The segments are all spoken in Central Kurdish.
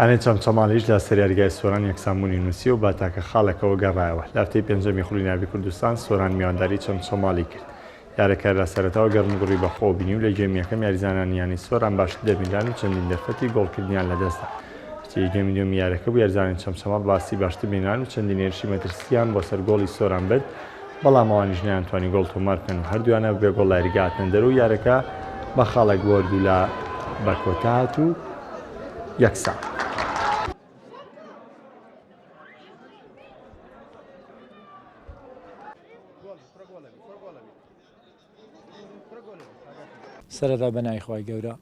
ئەرێنج چەمچەماڵیش لە سریارگای سۆران یەکسانبوونی نووسی و بە تاکە خاڵێکەوە گەڕایەوە. لە هەفتەی پێنجەمی خولی ناڤی کوردستان، سۆران میوانداری چەمچەماڵی کرد. یارەکە لە سەرەتاوە گەرموگوڕی بەخۆوە بینی و لە گێمی یەکەم یاریزانانی یانەی سۆران باشتر دەبینران و چەندین دەرفەتی گۆڵکردنیان لەدەستدا. کەچی گێمی دووەمی یارەکە بوو یاریزانانی چەمچەماڵ بەئاستی باشتر بینران و چەندین هێرشی مەترسییان بۆ سەر گۆڵی سۆران برد، بەڵام ئەوانیش نەیانتوانی گۆڵ تۆمار بکەن و هەردوویانە بەبێ گۆڵ لە یاریگا هاتنە دەر و یارەکە بە خاڵێک بۆرد و لا بە کۆتا هات و یەکسان. سەرەتا بە ناوی خوای گەورە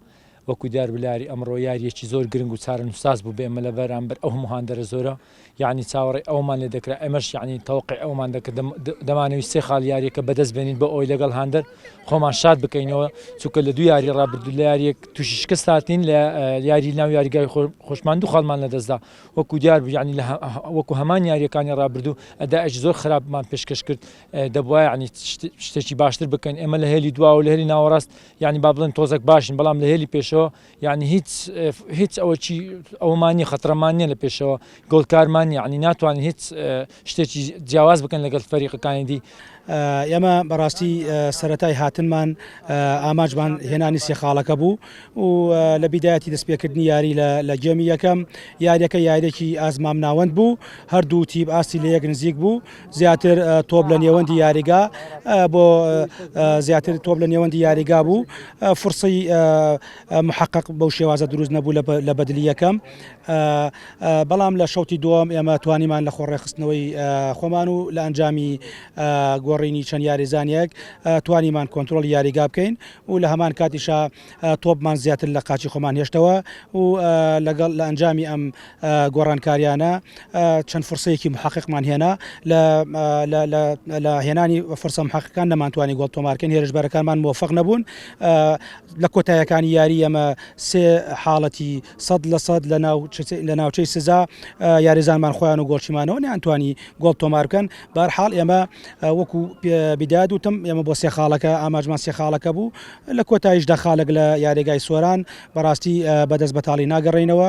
وەکو دیار بلاری ئەمڕۆ یاریەکی زۆر گرنگ و چارەنووساز بوو بێمە لە بەرامبەر ئەو هەموهاندەرە زۆرە یعنی چاوەڕێ ئەومان لێ دەکرا ئەمەش یعنی تەوقع ئەومان دەکرد دەمانەوی سێ خاڵ یاریەکە بەدەست بێنین بۆ ئەوی لەگەڵ هاندەر خۆمان شاد بکەینەوە چونکە لە دوو یاری ڕابردوو لە یاریەک تووشی شکست هاتین لە یاری ناو یاریگای خۆشمان دوو خاڵمان لەدەستدا وەکو دیار بوو یعنی وەکو هەمان یاریەکانی ڕابردوو ئەداش زۆر خراپمان پێشکەش کرد دەبوایە ینی شتێکی باشتر بکەن ئێمە لە هێلی دواوە لە هێلی ناوەڕاست ینی با بڵێن تۆزەک باشین بەڵام لە هێلی پێشەوە ینی هیچ هیچ ئەوەی ئەومانی خەترەمان نیە لە پێشەوە گۆڵکارمان ینی ناتوانین هیچ شتێکی جیاواز بکەن لەگەڵ فەریقەکانی دی ئێمە بەڕاستی سەتای هاتنمان ئاماجمان هێنانی سێخاڵەکە بوو و لە بیدایەتی دەستپێکردنی یاری لە گێمی یەکەم یاریەکە یاریێکی ئازمام ناوەند بوو هەردوو تیب ئاستی لە یەک نزیک بوو زیاتر تۆپ لە نێوەندی یاریگا بۆ زیاتر تۆپ لە نێوەندی یاریگا بوو فرسی محقق بەو شێوازە دروست نەبوو لە بەدلی یەکەم بەڵام لە شەوتی دووەم ئێمە توانیمان لە خۆڕێخستنەوەی خۆمان و لە ئەنجامی گۆڕینی چەند یاریزانانێک توانیمان کۆنتترۆل یاریگا بکەین و لە هەمان کاتیشا تۆپمان زیاتر لە قاچی خۆمان هێشتەوە و لەگەڵ لە ئەنجامی ئەم گۆڕانکاریانە چەند فرسەیەکی محققمان هێنا لە هێنانی فرسە محققەکان نەمانتوانی گۆڵ تۆمارکەن هێرشبەرەکانمان مۆفق نەبوون لە کۆتایەکانی یاری ئەمە سێ حاڵەتی سەد لە سەد لە ناو لە ناوچەی سزا یاریزانمان خۆیان و گۆڵچیمانەوە نیانتوانی گۆڵ تۆمارکەن بارحاڵ ئێمە وەکو بداد وتم ئێمە بۆ سێ خاڵەکە ئاماژمان سێ خاڵەکە بوو لە کۆتایشدا خالەک لە یارێگای سۆران بەڕاستی بەدەست بەتاڵی ناگەڕێینەوە.